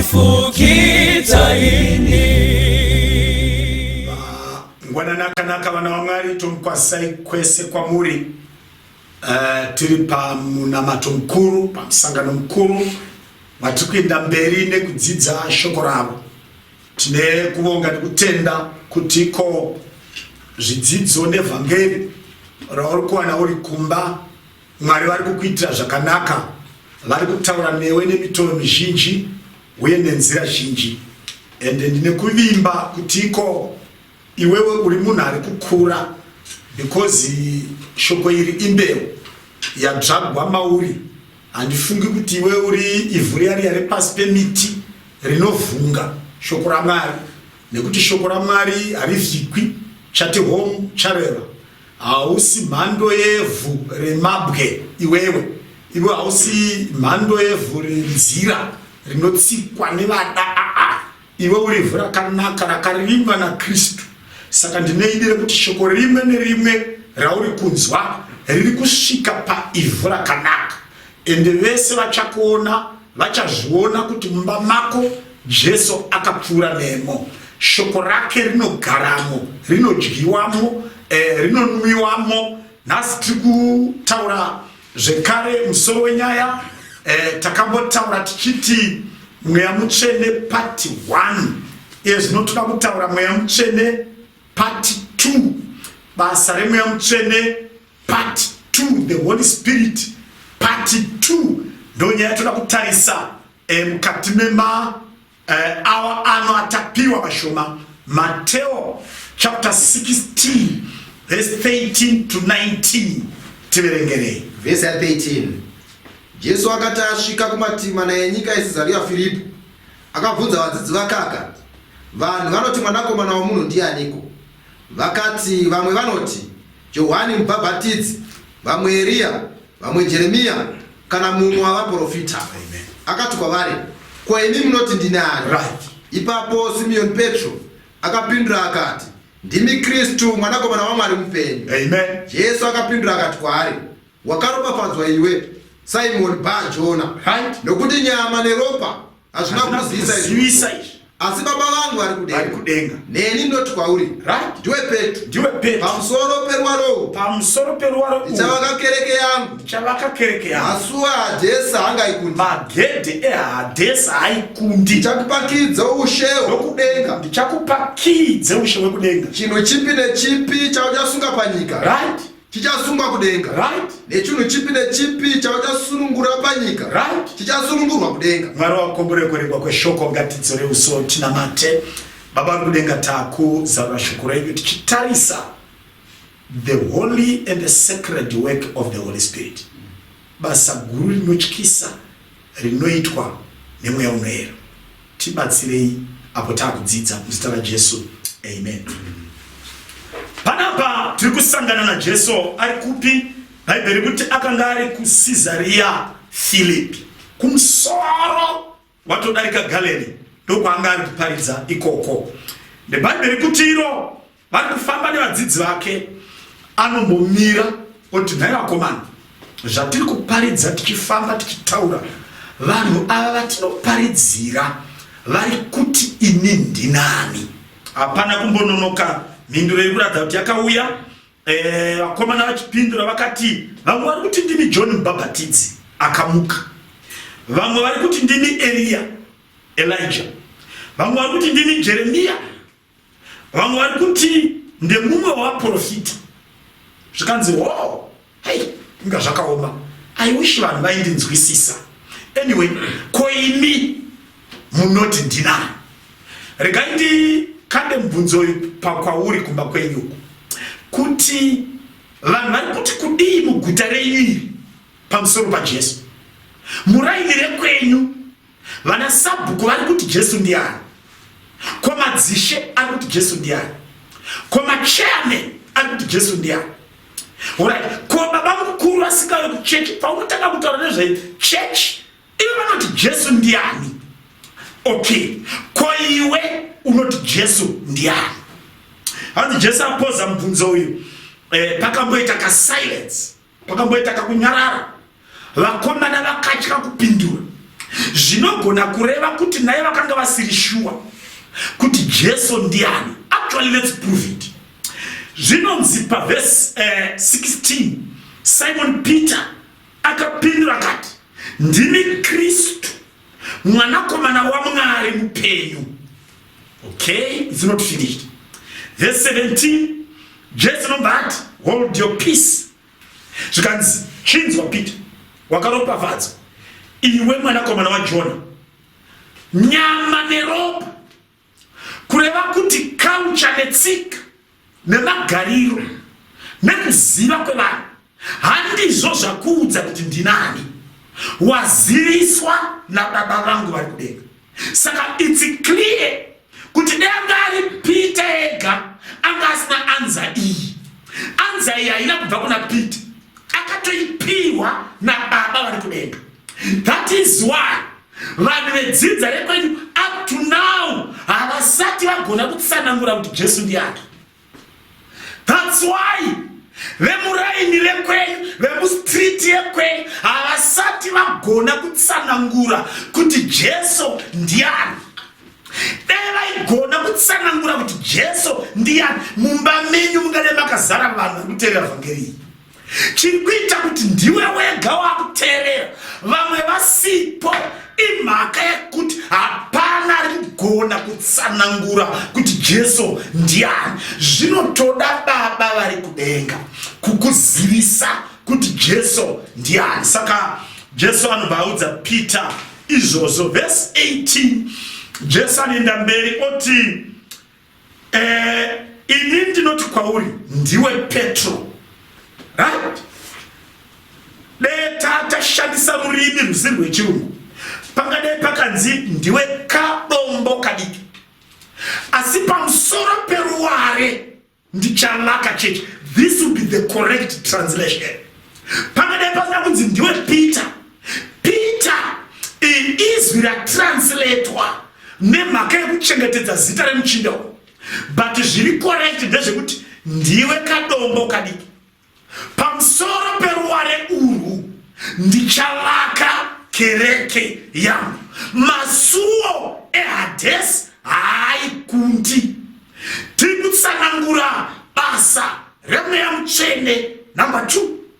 anondifukidza ini ngwanana akanaka vana vamwari tomukwasai kwese kwamuri Eh, tiri pamunamato mukuru pamusangano mukuru matiri kuenda mberi nekudzidza shoko ravo tine kuvonga nekutenda kuti ko zvidzidzo nevhangeri rauri kuwana uri kumba Mwari vari kukuitira zvakanaka, vari kutaura newe nemitoro mizhinji uye nenzira zhinji, ende ndine kuvimba kutiko iwewe uri munhu ari kukura because shoko iri imbeu yadzvagwa mauri. Handifungi kuti iwewe uri ivhu riya riya repasi pemiti rinovhunga shoko raMwari, nekuti shoko raMwari harivhikwi. Chati home chareva Hausi mhando yevhu remabwe iwewe. Iwe hausi mhando yevhu renzira rinotsikwa nevada aa. Iwe uri vhu rakanaka rakarimwa naKristu. Saka ndine idi rekuti shoko rimwe nerimwe rauri kunzwa riri kusvika paivhu rakanaka. Ende vese vachakuona vachazviona kuti mumba mako Jesu akapfuura nemo. Shoko rake rinogaramo, rinodyiwamo, eh, rinonwiwamo. Nhasi tiri kutaura zvekare musoro wenyaya eh, takambotaura tichiti mweya mutsvene pati 1 iye zvino toda kutaura mweya mutsvene pati 2 basa remweya mutsvene Part 2 the Holy Spirit part 2 ndonyaya yatoda kutarisa eh, mukati mema eh, awa ano atapiwa mashoma Mateo chapter 16 verse 13 to 19 tiverengerei verse 13 Jesu akati asvika kumativi mana enyika yeCesaria Firipo akabvunza vadzidzi vakaka vanhu vanoti mwanakomana womunhu ndianiko Vakati vamwe vanoti Johwani Mubhabhatidzi, vamwe Eriya, vamwe Jeremiya, kana mumwe wavaprofita. Akati kwavari, Ko imi munoti ndini ani? Ipapo Simiyoni Petro akapindura akati, Ndimi Kristu, Mwanakomana waMwari mupenyu. Jesu akapindura akati kwaari, Wakaropafadzwa iwe Simon Ba Jona, right? Nokuti nyama neropa hazvina kuzivisa izvi, asi Baba vangu vari kudenga. Neni ndoti kwauri, right? Ndiwe Petro, ndiwe Petro, pamusoro peruwaro uhu, pamusoro peruwaro uhu, ndichavaka kereke yangu, ndichavaka kereke yangu, masuwa aHadhesi haangaikundi, magedhe eHadhesi haikundi, ndichakupakidza ushe hwekudenga, ndichakupakidza ushe hwekudenga, chinhu chipi nechipi chauchasunga panyika, right? chichasungwa kudenga right nechunhu chipi nechipi chauchasunungura panyika right chichasunungurwa kudenga mwari wakombore kuregwa kweshoko ngatidzore uso tinamate baba kudenga takuzarura shoko renyu tichitarisa the holy and the sacred work of the holy spirit basa guru rinotyisa rinoitwa nemweya unoera tibatsirei apo takudzidza muzita rajesu amen panapa tiri kusangana najesu ari kupi bhaibheri kuti akanga ari kucesariya filipi kumusoro watodarika galeni ndokwaanga ari kuparidza ikoko nebhaibheri kuti iro vari kufamba nevadzidzi vake anombomira oti nhai vakomana zvatiri kuparidza tichifamba tichitaura vanhu ava vatinoparidzira vari kuti ini ndinani hapana kumbononoka mhinduro iri kuratidza kuti yakauya eh, vakomana vachipindura vakati vamwe vari kuti ndimi john mubhabhatidzi akamuka vamwe vari kuti ndimi eriya elija vamwe vari kuti ndimi jeremiya vamwe vari kuti ndemumwe wevaprofita zvikanzi ho oh, hei inga zvakaoma i wish vanhu vaindinzwisisa anyway ko imi munoti ndinani regai ndikande mubvunzo uyu pakwauri kumba kwenyu uku kuti vanhu vari kuti kudii muguta renyu iri pamusoro pajesu muraini rekwenyu Vana sabhuku vari kuti Jesu ndiani? Ko madzishe ari kuti Jesu ndiani? Ko machairman ari kuti Jesu ndiani? Alright, ko baba mukuru vasikawe kuchechi paunotanga kutaura nezve chechi ivo vanoti Jesu ndiani? Okay, ko iwe unoti Jesu ndiani? Hanzi Jesu apoza mubvunzo uyu eh, pakamboita kasilence Kwakamboita kakunyarara, vakomana vakatya kupindura. Zvinogona kureva kuti naye vakanga vasiri shuwa kuti Jesu ndiani. Actually, let's prove it. Zvinonzi pavhesi eh, 16 Simon Peter akapindura akati, ndimi Kristu mwanakomana wamwari mupenyu okay it's not finished verse 17 jesu nobva ati hold your peace zvikanzi chinzwa peter wakaropafadzwa iwe mwanakomana wajona nyama neropa kureva kuti culture netsika nemagariro nekuziva kwevanhu handizvo zvakuudza kuti ndinani waziviswa nababa vangu vari kudenga saka its clear kuti danga ari pita ega anga asina anza iyi anza iyi haina kubva kuna pita akatoipiwa nababa vari kudenga that is why Vanhu vedzidza rekwenyu up to now havasati vagona kutsanangura kuti Jesu ndiani. That's why vemuraini rekwenyu vemustreet yekwenyu havasati vagona kutsanangura kuti Jesu ndiani. Dai vaigona kutsanangura kuti Jesu ndiani mumba menyu mungade makazara vanhu vekutevera vhangeri iyi. chiri kuita kuti ndiwe wega wakuteerera vamwe vasipo imhaka yekuti hapana rigona kutsanangura kuti jesu ndiani zvinotoda baba vari kudenga kukuzivisa kuti jesu ndiani saka jesu anobva audza peter izvozvo vhesi 18 jesu anoenda mberi oti eh, ini ndinoti kwauri ndiwe petro right dee tatashandisa rurimi ruzi rwechirungu pangadei pakanzi ndiwe kadombo kadiki asi pamusoro peruware ndichavaka chechi this will be the correct translation pangadei pasina kunzi ndiwe peter Peter izwi ratransiletwa nemhaka yekuchengetedza zita remuchinda uyu but zviri correct ndezvekuti ndiwe kadombo kadiki pamusoro peruware urwu ndichavaka kereke yangu masuwo ehadhesi haaikundi tiri kutsanangura basa remweya mutsvene number two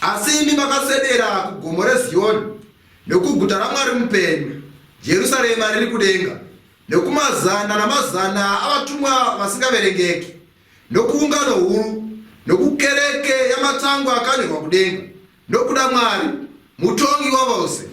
Asi imi makaswedera kugomo reZiyoni, nokuguta raMwari mupenyu, Jerusarema riri kudenga, nokumazana namazana avatumwa vasingaverengeki, nokuungano huru, nokukereke yamatangwa akanyorwa kudenga, nokuda Mwari, mutongi wavose,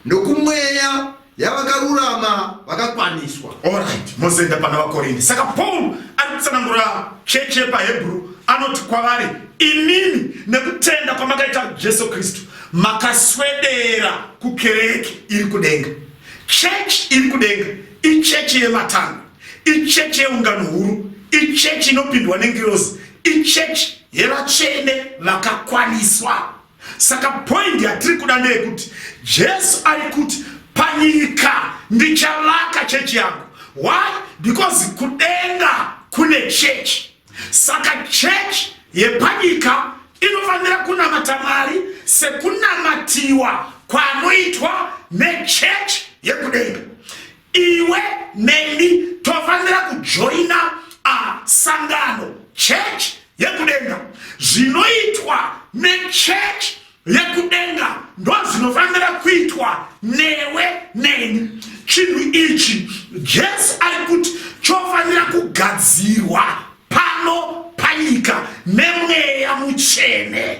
nokumweya yavakarurama vakakwaniswa. Alright, mozoenda pana vaKorinde. Saka Paul ari kutsanangura chechi yepaHebru anoti kwavari, imimi nekutenda kwamakaita Jesu Kristu makaswedera kukereke iri kudenga. Chechi iri kudenga ichechi yematanga, ichechi yeungano huru, ichechi inopindwa nengirozi, ichechi yevatsvene vakakwaniswa. Saka point yatiri kuda ndeyekuti Jesu ari kuti panyika ndichavaka chechi yangu. Why? Because kudenga kune chechi. Saka chechi yepanyika inofanira kunamata Mwari sekunamatiwa kwanoitwa nechechi yekudenga. iwe neni tofanira kujoina sangano chechi yekudenga zvinoitwa nechechi yekudenga ndozvinofanira kuitwa newe neni chinhu ichi jesu ari kuti chofanira kugadzirwa pano panyika nemweya muchene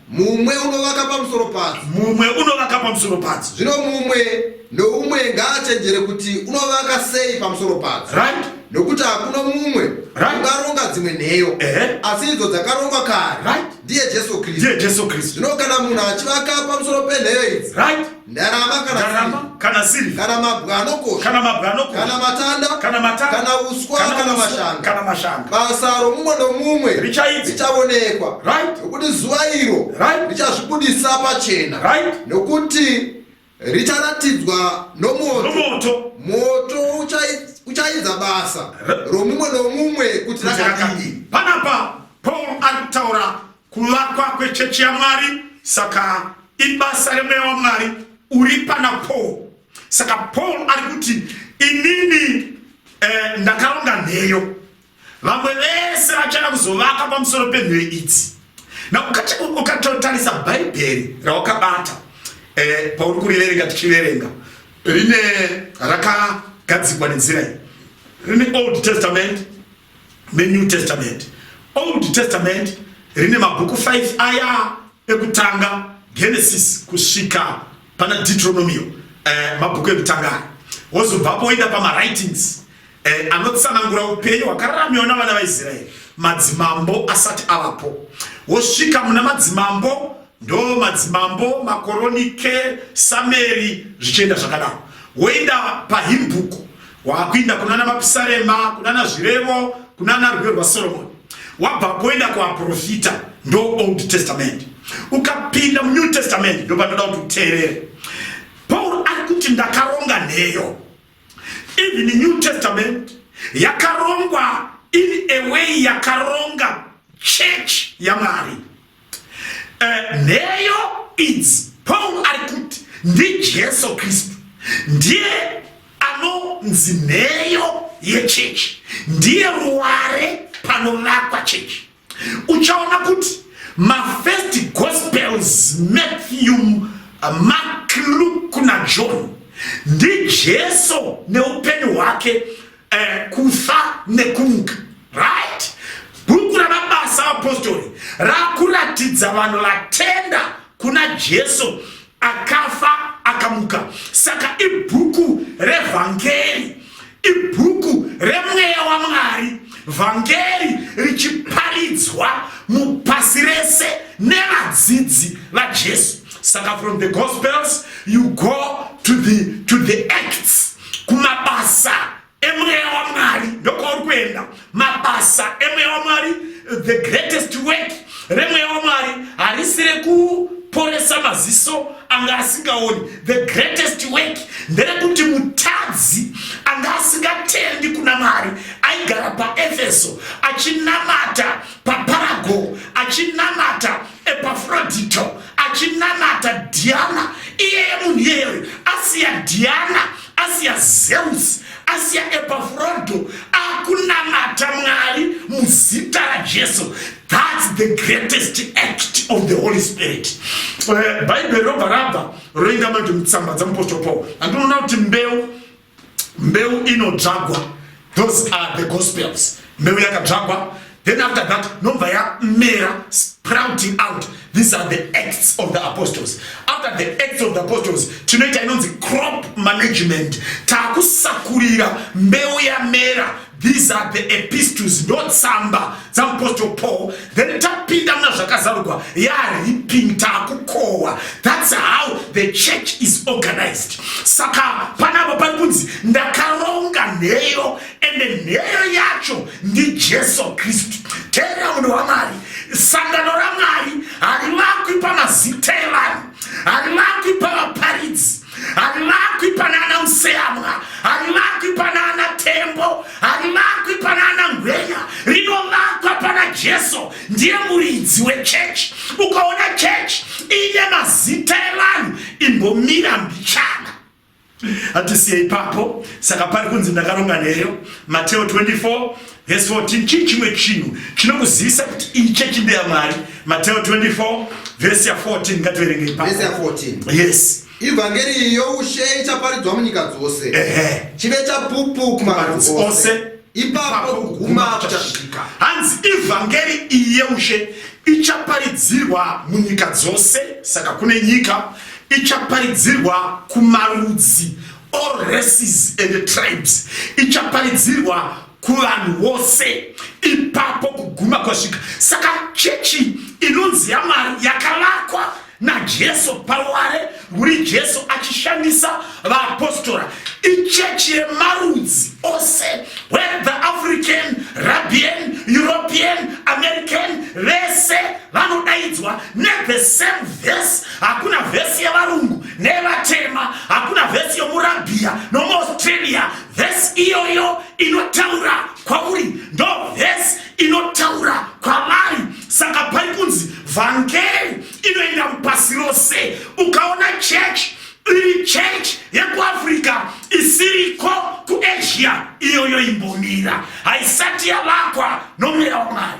Mumwe unovaka pamusoro padzo. Mumwe unovaka pamusoro padzo. Zvino mumwe noumwe ngaachenjere kuti unovaka sei pamusoro padzo. Right? Nokuti hakuna mumwe right. ungaronga dzimwe nheyo. Uh -huh. Asi idzo dzakarongwa kare. Right? Ndiye Jesu Kristu. Ndiye Jesu Kristu. Zvino kana munhu achivaka pamusoro penheyo idzi. Right? ndarama kana ndarama siri kana siri kana mabwe anokosha kana mabwe anokosha kana matanda kana matanda kana uswa kana, kana mashanga kana mashanga basa romumwe nomumwe richaidzi richavonekwa right nokuti zuva iro right richazvibudisa pachena right nokuti richaratidzwa nomoto nomoto moto uchaidza basa romumwe nomumwe kuti rakadii panapa paul ari kutaura Kuvakwa kwechechi yaMwari saka ibasa remweya waMwari uri pana Paul. Saka Paul ari kuti inini eh, ndakaronga nheyo vamwe vese vachada kuzovaka pamusoro penheyo idzi na ukatotarisa bhaibheri rawakabata eh, pauri kuriverenga tichiverenga rine rakagadzikwa nenzira iyi rine old testament menew testament old testament rine mabhuku 5 aya ekutanga genesis kusvika pana deuteronomio eh, mabhuku ekutanga aya wozobvapo woenda pamawritings eh, anotsanangura upenyu hwakararamiwa navana vaisraeri madzimambo asati avapo wosvika muna madzimambo ndo madzimambo makoronike sameri zvichienda zvakadaro woenda pahimbuku Wakuinda kunana mapisarema, kunana zvirevo, kunana rwiyo rwaSoromoni. Wabva kuenda kuaprofita ndo Old Testament. Ukapinda muNew Testament ndo panoda kuti uteerere. Paul ari kuti ndakaronga nheyo. Even the New Testament yakarongwa in a way yakaronga church yaMwari. Eh, nheyo idzi pauro ari kuti ndijesu kristu ndiye anonzi nheyo yechechi ndiye ruware panovakwa chechi uchaona kuti mafirst gospels matthew uh, mark luke najohn ndijesu neupenyu hwake eh, kufa nekumuka right bhuku ramabasa apostori rakuratidza vanhu vatenda kuna jesu akafa akamuka saka ibhuku revhangeri ibhuku remweya wamwari vhangeri richiparidzwa mupasi rese nevadzidzi vajesu saka from the gospels you go to the, to the acts kumabasa emweya wamwari ndokwauri kuenda mabasa emweya wamwari the greatest work remweya wamwari harisi rekuporesa maziso anga asingaoni the greatest work nderekuti mutadzi anga asingatendi kuna mwari aigara paefeso achinamata paparago achinamata Epafrodito achinamata Diana iyeye munhu iyeyoyo asiya Diana asiya Zeus asiya Epafrodo akunamata Mwari muzita raJesu that's the greatest act of the Holy Spirit eh, Bible robva rabva roinda manje mutsamba dzamupostori Paul andinoona kuti mbeu mbeu inodzvagwa those are the gospels mbeu yakadzvagwa then after that nobva yamera sprouting out these are the acts of the apostles after the acts of the apostles tinoita inonzi crop management takusakurira mbeu yamera These are the epistles not tsamba dzamupostle Paul then tapinda muna zvakazarurwa yaripping taakukohwa that's how the church is organized saka panapa pari kunzi ndakaronga nheyo ende nheyo yacho ndijesu kristu teera munhu wamwari sangano ramwari harivakwi pamazita evanhu harivakwi pavaparidzi harimakwi pana ana museyamwa harimakwi pana ana tembo harimakwi pana ana ngwenya rinovakwa pana jesu ndiye muridzi wechechi ukaona chechi ine mazita evanhu imbomira mbichana hatisiye ipapo saka pari kunzi ndakaronga neyo mateo 24 Vhesi 14 chii chimwe chinhu chinokuzivisa kuti iyi chechi ndeya Mwari? Mateo 24 vhesi ya 14 ngativerengei pa. Vhesi ya 14. Yes. Ivhangeri youshe ichaparidzwa munyika dzose. Ehe. Chive chapupu kumarudzi ose. Ipapo kuguma kuchasvika. Hanzi ivhangeri iyi yeushe ichaparidzirwa munyika dzose saka kune nyika ichaparidzirwa kumarudzi all races and tribes ichaparidzirwa kuvanhu vose ipapo kuguma kwasvika saka chechi inonzi yamwari yakavakwa najesu paruware rwuri jesu achishandisa vaapostora ichechi yemarudzi ose whether african rabian european american vese vanodaidzwa nethe same vhesi hakuna vhesi yevarungu nevatema hakuna vhesi yomurabhiya nomuaustralia vhesi iyoyo inotaura kwauri ndo vhesi inotaura kwavari saka pari kunzi vhangeri inoenda mupasi rose ukaona chechi iri chechi yekuafrica isiriko kuasia iyoyo imbomira haisati yavakwa nomweya wamwari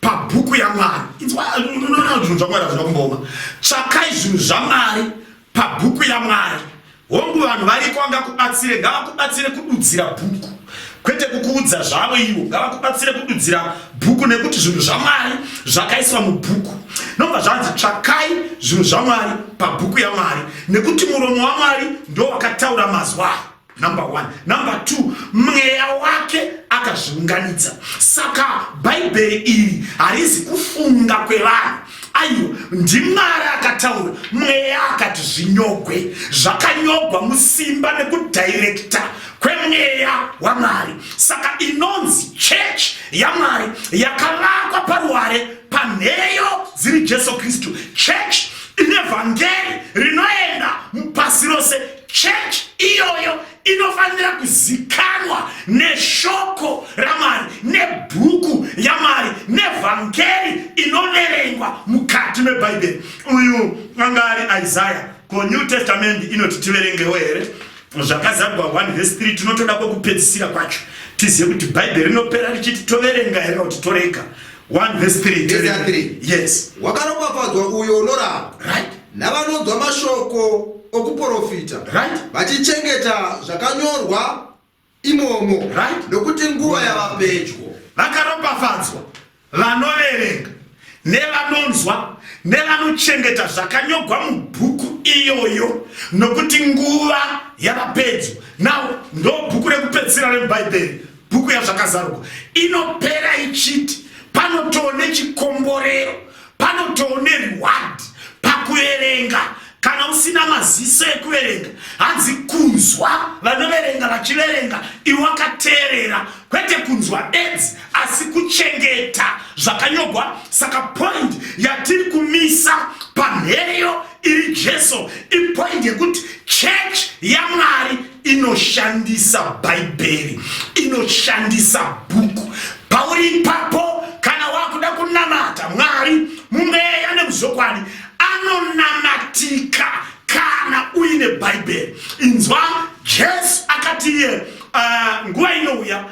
pabhuku yamwari inzwaunona zvinhu zvamwari hazvina kumboma tsvakai zvinhu zvamwari pabhuku yamwari hongu vanhu variko vangakubatsire ngavakubatsire kududzira bhuku kwete kukuudza zvavo ivo ngavakubatsire kududzira bhuku nekuti zvinhu zvamwari zvakaiswa mubhuku nobva zvanzi tsvakai zvinhu zvamwari pabhuku yamwari nekuti muromo wamwari ndo wakataura mazwa number one number two mweya wake akazviunganidza saka bhaibheri iri harizi kufunga kwevanhu aiwa ndimwari akataura mweya akati zvinyogwe zvakanyogwa musimba nekudhairekta kwemweya wamwari saka inonzi chechi yamwari yakavakwa paruware panheyo dziri jesu kristu chechi ine vhangeri rinoenda pasi rose Church iyoyo inofanira kuzikanwa neshoko ramari nebhuku yamari nevhangeri inoverengwa mukati mebhaibheri uyu anga ari isaya ko new testament inoti tiverengewo here zvakazarwa 1 vhesi 3 tinotoda kwekupedzisira kwacho tizive kuti bhaibheri rinopera richiti toverenga here kuti torega 1 vhesi 3 yes wakaropafadzwa uyo unorava right Navanonzwa mashoko okuporofita. Right. Vachichengeta zvakanyorwa imomo. Right. Nokuti nguva yava pedyo. Vakaropafadzwa vanoverenga nevanonzwa nevanochengeta zvakanyogwa mubhuku iyoyo nokuti nguva yava pedyo nawo ndo bhuku rekupedzisira remubhaibheri bhuku yazvakazarugwa inopera ichiti panotoone chikomborero Panotowo nereward pakuverenga kana usina maziso ekuverenga hanzi kunzwa vanoverenga vachiverenga iwe wakateerera kwete kunzwa bedzi asi kuchengeta zvakanyogwa saka point yatiri kumisa panheyo iri jesu ipoint yekuti church yamwari inoshandisa bhaibheri inoshandisa bhuku pauri ipapo kana wakuda kunamata mwari mumweya nemuzokwadi anonamatika kana uine bhaibheri inzwa jesu akati iye uh, nguva inouya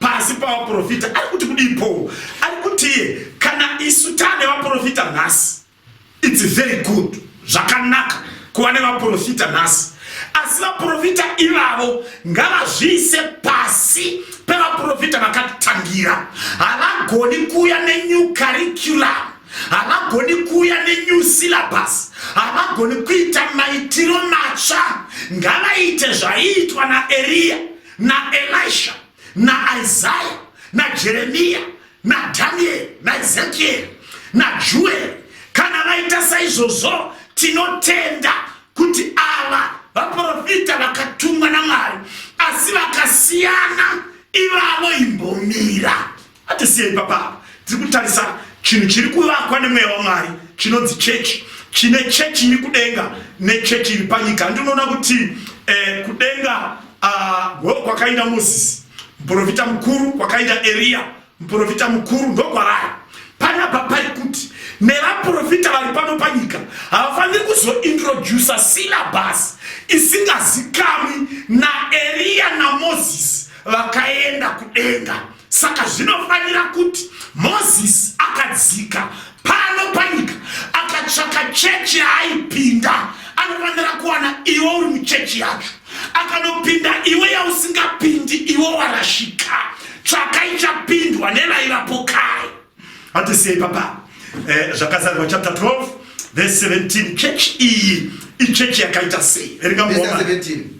pasi pavaprofita ari kuti kudii paul ari kutiye kana isu tane vaprofita nhasi its very good zvakanaka kuva nevaprofita nhasi asi vaprofita ivavo ngavazviise pasi pevaprofita vakatitangira havagoni kuuya nenew curriculum havagoni kuuya nenew syllabus havagoni kuita maitiro matsva ngavaite zvaiitwa naeriya naelisha naisaya najeremiya nadhanieri naezekieri najueri kana vaita saizvozvo tinotenda kuti ava vaprofita vakatumwa namwari asi vakasiyana ivavo imbomira Hatisiyei papapa, tiri kutarisa chinhu chiri kuvakwa nemweya waMwari chinonzi chechi chine chechi iri kudenga nechechi iri panyika handi unoona kuti eh, kudenga ah, go uh, kwakaenda mozisi muprofita mukuru kwakaenda eriya muprofita mukuru ndokwarari panapa pari kuti nevaprofita vari pano panyika havafaniri kuzointrodusa silabhasi isingazikamwi naeriya namozisi vakaenda kudenga Saka zvinofanira kuti Mozisi akadzika pano panyika akatsvaka chechi yaaipinda, anofanira kuwana iwe uri muchechi yacho. Akanopinda iwe yausingapindi, iwe warashika. Tsvaka ichapindwa nevaivapo kare. Hatisiye ipapa eh, zvakazarwa chapter 12 verse 17 church iyi ichechi yakaita sei verenga muoma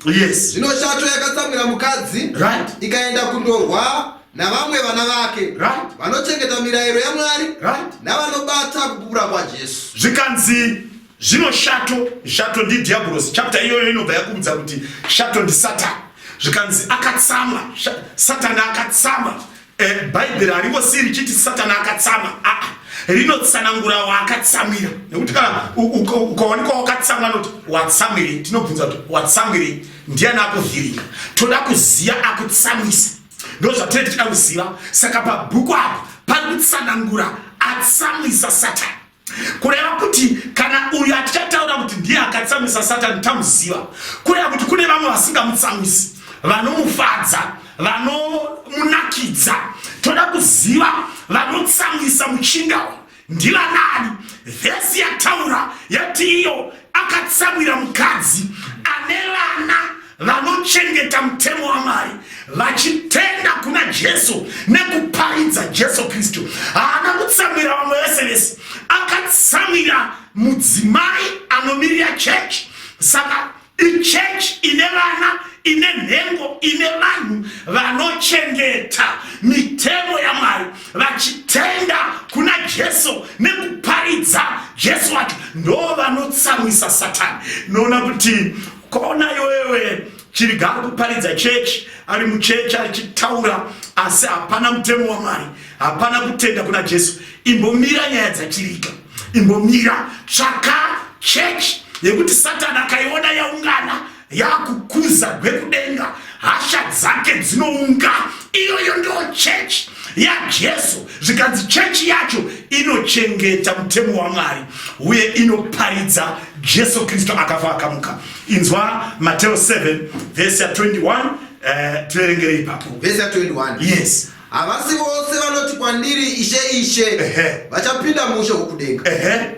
yes zvino shato yakatsamwira mukadzi right ikaenda kundorwa navamwe vana vake right vanochengeta mirayiro yamwari right navanobata kupupura kwajesu zvikanzi zvino shato shato ndidhiabhorosi chapter iyoyo inobva yakuudza kuti shato ndisatani zvikanzi akatsamwa satani akatsamwa Eh, bhaibheri haringosiyi richiti satani akatsama aa ah, ah. rinotsanangura waakatsamira nekuti kana ukaonekwa wakatsamwa noti watsamwirei tinobvunza kuti watsamwirei ndiyani akuvhiringa toda kuziva akutsamwisa ndo zvatine tichida kuziva saka pabhuku apa pari kutsanangura atsamwisa satani kureva kuti kana uyu atichataura kuti ndiye akatsamwisa satani tamuziva kureva kuti kune vamwe vasingamutsamwisi vanomufadza vanomunakidza toda kuziva vanotsamwisa muchinda uyu ndivanani vhesi yataura yati iyo akatsamwira mukadzi ane vana vanochengeta mutemo wamwari vachitenda kuna jesu nekuparidza jesu kristu haana kutsamwira vamwe vese vese akatsamwira mudzimai anomirira chechi saka ichechi ine vana ine nhengo ine vanhu vanochengeta mitemo yamwari vachitenda kuna jesu nekuparidza jesu wacho ndo vanotsamwisa satani noona kuti Kona iwewe chiriga ari kuparidza chechi ari muchechi achitaura asi hapana mutemo wamwari hapana kutenda kuna jesu imbomira nyaya dzachiriga imbomira tsvaka chechi yekuti satani akaiona yaungana yakukuza gwekudenga hasha dzake dzinounga iyoyo ndo chechi yajesu zvikanzi chechi yacho inochengeta mutemo wamwari uye inoparidza jesu kristu akafa akamuka inzwa mateo 7 vhesi ya 21 eh, tiverengere ipapo vhesi ya 21 yes havasi vose vanoti kwandiri ishe ishe vachapinda mushe wokudenga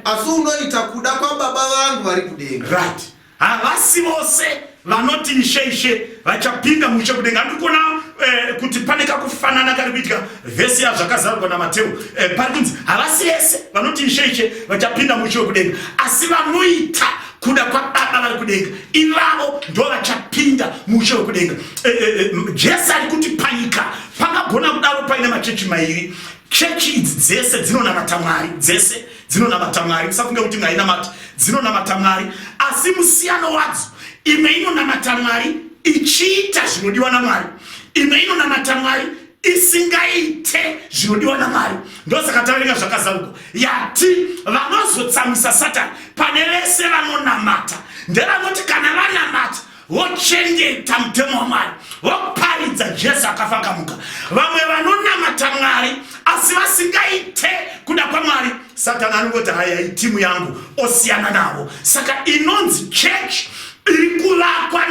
asi unoita kuda kwababa vangu vari kudenga right Havasi vose vanoti ishe ishe vachapinda muushe kudenga. Ndiri kuona eh, kuti pane kakufanana kari kuitika vhesi yazvakazarurwa naMateu eh, pari kunzi havasi vese vanoti ishe ishe vachapinda muushe wekudenga, asi vanoita kuda kwababa vari kudenga ivavo ndo vachapinda muushe wekudenga. Eh, eh, eh, Jesu ari kuti panyika pangagona kudaro paine machechi mairi chechi idzi dzese dzinonamata mwari dzese dzinonamata mwari musafunge kuti ngainamati dzinonamata mwari asi musiyano wadzo imwe inonamata mwari ichiita zvinodiwa namwari imwe inonamata mwari isingaite zvinodiwa namwari ndosaka taverenga zvakazaruka yati vanozotsamwisa satani pane vese vanonamata ndevanoti kana vanamata vochengeta mutemo wamwari voparidza jesu akafa akamuka vamwe vanonamata mwari asi vasingaite kuda kwamwari satani anongoti haya itimu yangu osiyana navo saka inonzi chechi iri kuvakwa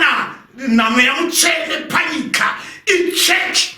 namweya mutsvene panyika ichechi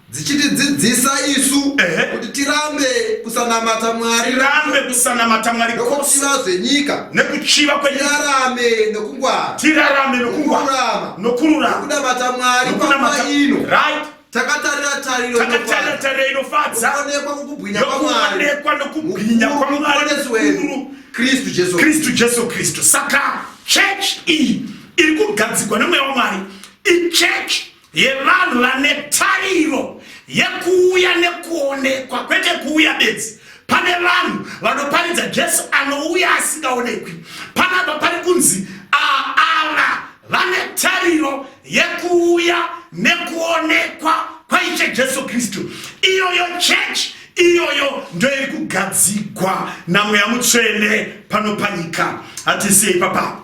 dzichitidzidzisa isu kuti tirambe kusanamata mwari rambe kusanamata mwari nokuchiva zvenyika nekuchiva kwenyarame nokungwara tirarame nokungwara nokururama nokunamata mwari pama ino right takatarira tariro takatarira tariro inofadza onekwa kukubwinya kwamwari onekwa nokubwinya kwamwari wedu kristu jesu kristu jesu kristu saka church iyi iri kugadzigwa nemweya wamwari ichurch yevanhu vane tariro yekuuya nekuonekwa kwete kuuya bedzi pane vanhu vanoparidza jesu anouya asingaonekwi panapa pari kunzi aava vane tariro yekuuya nekuonekwa kwaiche jesu kristu iyoyo chechi iyoyo ndoiri kugadzigwa namweya mutsvene pano panyika hatisei papapo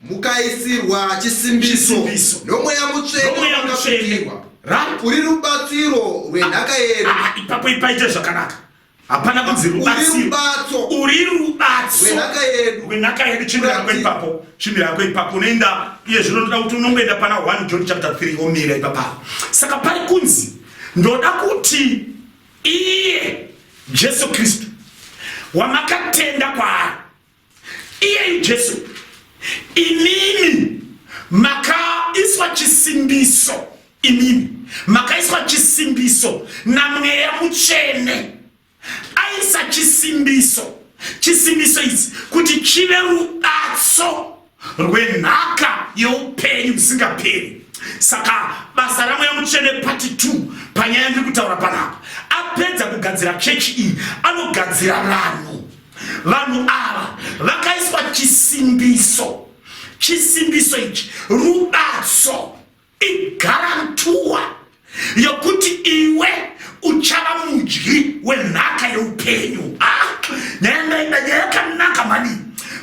mukaisirwa chisimbiso nomweya mutsvene uri rubatsiro rwenhaka yedu ah, ah, ipapo ipaite zvakanaka hapana kunzi rubatsiro uri rubatsiro rwenhaka yedu chimira yako ipapo chimira yako ipapo unoenda iye zvino ndoda kuti unongoenda pana 1 john chapter 3 omira ipapa saka pari kunzi ndoda kuti iye jesu kristu wamakatenda kwaari iyeyu jesu imimi makaiswa chisimbiso imimi makaiswa chisimbiso namweya mutsvene aisa chisimbiso chisimbiso idzi kuti chive rubatso rwenhaka yeupenyu musingaperi saka basa ramweya mutsvene pati 2 panyaya ndiri kutaura panapa apedza kugadzira chechi iyi anogadzira vanhu vanhu ava vakaiswa chisimbiso chisimbiso ichi rubatso igarantuwa yokuti iwe uchava mudyi wenhaka yeupenyu ah, nyaya ndaida nyaya yakanaka mani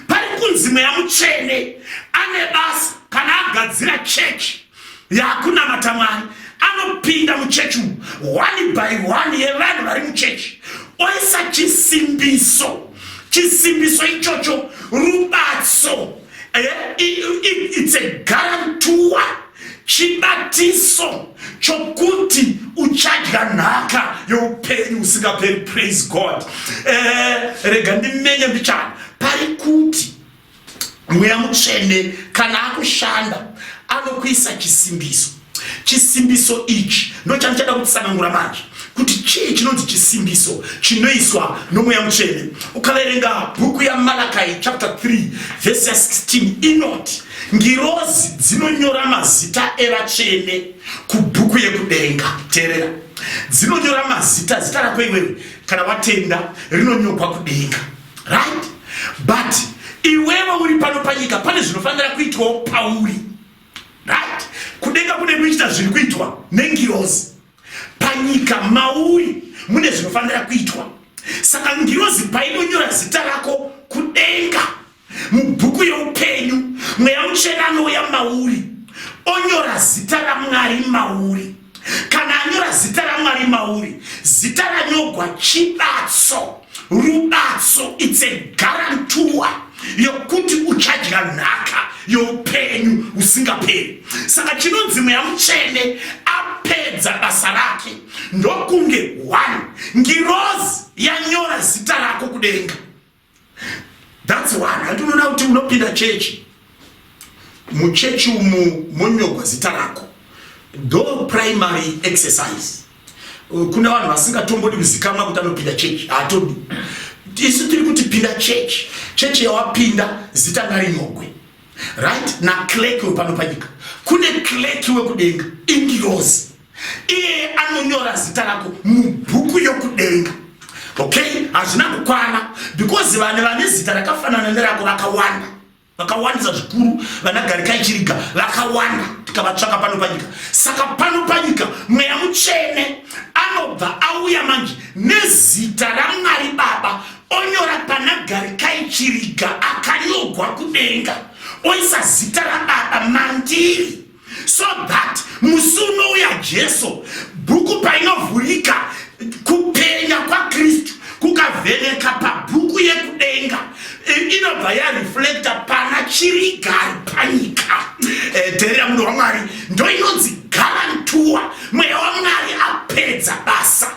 pari kunzi mweya mutsvene ane basa kana agadzira chechi yakunamata mwari anopinda muchechi umu one by one yevanhu vari muchechi oisa chisimbiso chisimbiso ichocho rubatso Eh, it's a guarantor chibatiso chokuti uchadya nhaka youpenyu usingaperi praise god eh, rega ndimenye mbichana pari kuti mweya mutsvene kana akushanda anokuisa chisimbiso Chisimbiso ichi ndochandichada kutsanangura manje kuti chii chinonzi chisimbiso chinoiswa nomweya mutsvene. Ukaverenga bhuku yaMalakai chapter 3 vhesi ya 16 inoti ngirozi dzinonyora mazita evatsvene kubhuku yekudenga. Teerera, dzinonyora mazita, zita rako iwewe kana watenda rinonyorwa kudenga, right? But iwewe uri pano panyika, pane zvinofanira kuitwawo pauri right kudenga kune kuita zviri kuitwa nengirozi panyika mauri mune zvinofanira kuitwa saka ngirozi painonyora zita rako kudenga mubhuku yeupenyu mweya muchena anouya mauri onyora zita ramwari mauri kana anyora zita ramwari mauri zita ranyogwa chibatso rubatso its a garantua yokuti uchadya nhaka youpenyu usingaperi saka chinonzi mweya mutsvene apedza basa rake ndokunge one ngirozi yanyora zita rako kudenga That's one. Handi unoona kuti unopinda chechi. Muchechi umu monyogwa zita rako. Do primary exercise. Uh, kuna vanhu vasingatombodi kuzikamwa kuti anopinda chechi. Hatodi. Isu tiri kuti pinda chechi. Chechi yawapinda zita ngarinyogwe. right naclerk wepano panyika kune clerk wekudenga ingirozi iye anonyora zita rako mubhuku yokudenga okay hazvina kukwana because vane vane zita rakafanana nerako vakawanda vakawandisa zvikuru vana garikai chiriga vakawanda tikavatsvaka pano panyika saka pano panyika mweya mutsvene anobva auya manje nezita ramwari baba onyora pana garikai chiriga akanyogwa kudenga oisa zita rababa mandiri so that musi unouya jesu bhuku painovhurika kupenya kwakristu kukavheneka pabhuku yekudenga inobva yareflecta pana chirigari panyika eh, dherera munhu wamwari ndoinonzi garantuwa mweya wamwari apedza basa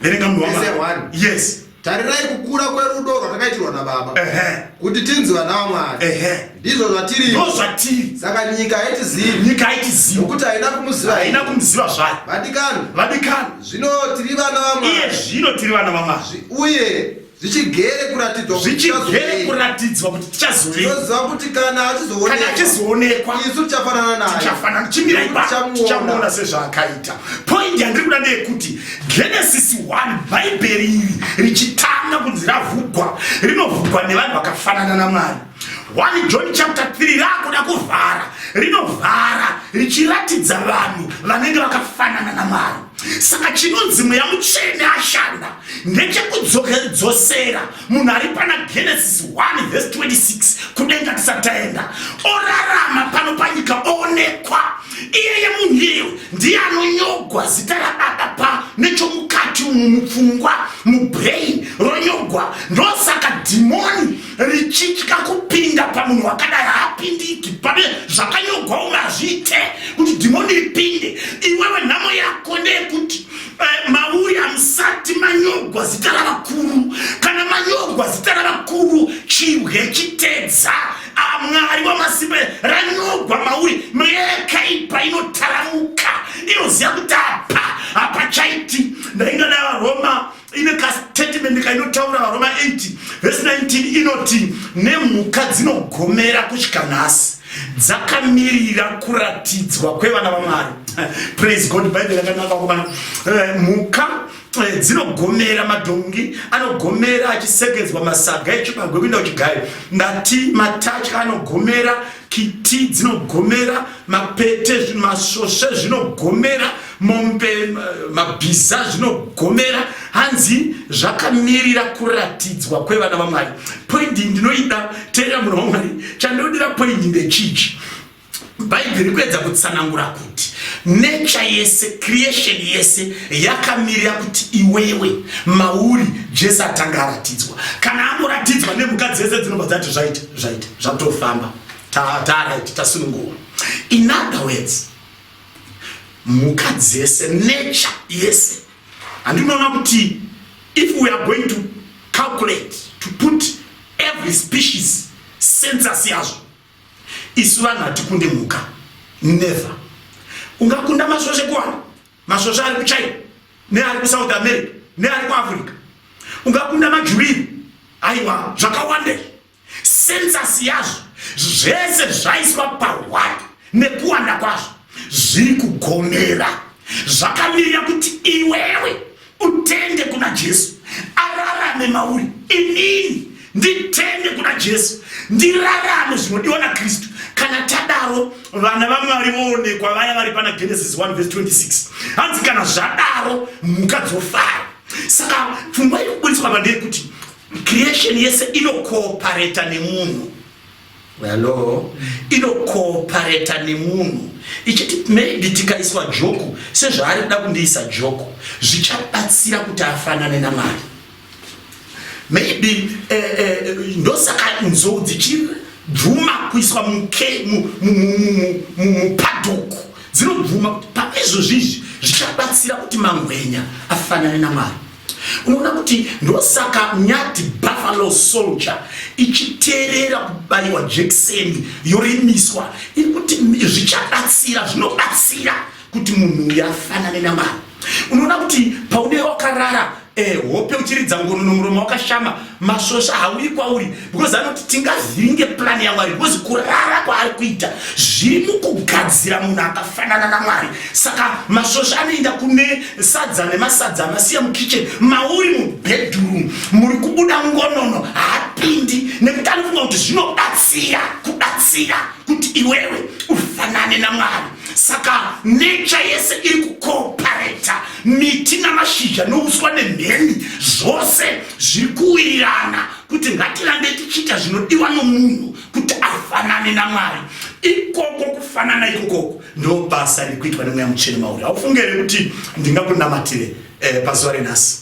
verenga munhu wamwari yes tarirai kukura kwerudo rwatakaitirwa nababa kuti tinzi vana vamwari ndizvo zvatirindo zvatiri saka nyika haitizivi nyika haitizivi nokuti haina kumuziva haina kumuziva zvayo vadikani vadikani zvino tiri vana vamwari iye zvino tiri vana vamwari uye zvichigere kuratidzwa zvichigere kuratidzwa kuti tichazoveoziva kuti kana achizoonekwa achizoonekwa isu tichafanana naye tichafanana chimira ipapo tichamuona sezvaakaita point yandiri kuda ndeyekuti genesis 1 bhaibheri iri richitanga kunzi ravhugwa rinovhugwa nevanhu vakafanana namwari 1 John chapter 3 rakuda kuvhara rinovhara richiratidza vanhu vanenge vakafanana namwari saka chinonzi mweya mutsvene ashanda ndechekudzokedzosera munhu ari pana genesis 1 vhesi 26 kudenga tisati taenda orarama pano panyika oonekwa iyeye munhu iyeyo ndiye anonyogwa zita rababa pa nechomukati umu mupfungwa mubrain ronyogwa ndosaka dhimoni richitya kupinda pamunhu wakadai haapindiki pane zvakanyogwa umwe hazviite kuti dhimoni ripinde iwewe nhamo yako ndeyekuti eh, mauya musati manyogwa zita ravakuru kana manyogwa zita ravakuru chibwe chitedza ah, mwari wamasimba ranyogwa mauri mweya yakaipa inotaramuka inoziva kuti apa hapachaiti ndaingadai varoma ine kastatement kainotaura varoma 8 vhesi 19 inoti nemhuka dzinogomera kusvika nhasi dzakamirira kuratidzwa kwevana vamwari praise god bhaibheri rakanaka kumana eh, mhuka eh, dzinogomera madhongi anogomera achisekedzwa masaga echibagwe kuinda kuchigayo ndati matatya anogomera kiti dzinogomera mapete masvosve zvinogomera mombe mabhiza zvinogomera hanzi zvakamirira kuratidzwa kwevana vamwari poindi ndinoida teera munhu wamwari chandinodira poindi ndechichi bhaibheri kuedza kutsanangura kuti nature yese creation yese yakamirira kuti iwewe mauri jesu atanga aratidzwa kana angoratidzwa nemhuka dzese dzinobva dzati zvaita zvaita zvakutofamba taraiti tasununguwa in other words mhuka dzese nature yese handinoona kuti if we are going to calculate to put every species census yazvo isu vanhu hatikunde mhuka never ungakunda masvosvekuwana masvosva ari kuchina neari kusouth america neari kuafrica ungakunda majuriri aiwa zvakawandei sensas yazvo zvese zvaiswa pahwai nekuwanda kwazvo zviri kugomera zvakamirira kuti iwewe utende kuna jesu ararame mauri inini nditende kuna jesu ndirarame zvinodiwa nakristu kana tadaro vana vamwari voonekwa vaya vari pana genesis 1 vs 26 hanzi kana zvadaro mhuka dzofara saka pfungwa iri kuburitswa pandeyekuti creation yese inokoopareta nemunhu Hello. Inokoopareta nemunhu ichiti maybe tikaiswa joku sezvaari kuda kundiisa joku zvichabatsira kuti afanane namari maybe eh, eh, ndosaka nzou dzichibvuma kuiswa mupadhuku dzinobvuma kuti pane izvozvizvi zvichabatsira kuti mangwenya afanane namari Unoona kuti ndosaka nyati buffalo soldier ichiterera kubayiwa jekiseni yorimiswa iri kuti zvichabatsira zvinobatsira kuti munhu uyu afanane namwari unoona kuti paune wakarara eh, hope uchiridza ngono nomuromo wakashama masvosva hauyi kwauri because anoti tingavhiringe plani yamwari because kurara kwaari kuita zviri mukugadzira munhu akafanana namwari saka masvosva anoenda kune sadza nemasadza amasiya mukitchen mauri mubedroom muri kubuda ngonono haapindi nekuti anofunga kuti zvinobatsira kubatsira kuti iwewe ufanane namwari saka necha yese iri kukopareta miti namashizha nouswa nemheni zvose zviri kuwirirana kuti ngatirambe tichiita zvinodiwa nomunhu kuti afanane namwari ikoko kufanana ikokoko ndobasa riri kuitwa nemweya muchene mauri haufunge here kuti ndingakunamatire eh, pazuva renhasi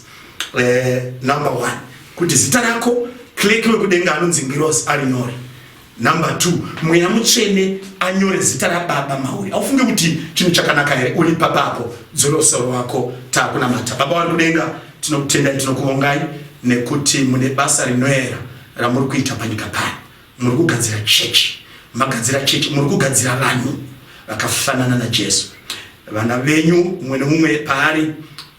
eh, number one kuti zita rako kleki wekudenga anonzi ngirosi ari nyore Number two, mweya mutsvene anyore zita rababa mauri. Aufunge kuti chinhu chakanaka here uri papa apo dzoro soro wako takunamata. Baba wari kudenga tinokutendai tinokuvongai nekuti mune basa rinoera ramuri kuita panyika pano. Muri kugadzira chechi, magadzira chechi, muri kugadzira vanhu vakafanana naJesu. Vana venyu mumwe nemumwe paari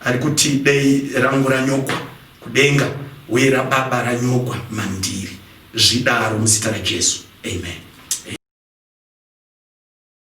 ari kuti dei rangu ranyokwa kudenga uye rababa ranyokwa mandiri. zvidaro muzita raJesu amen.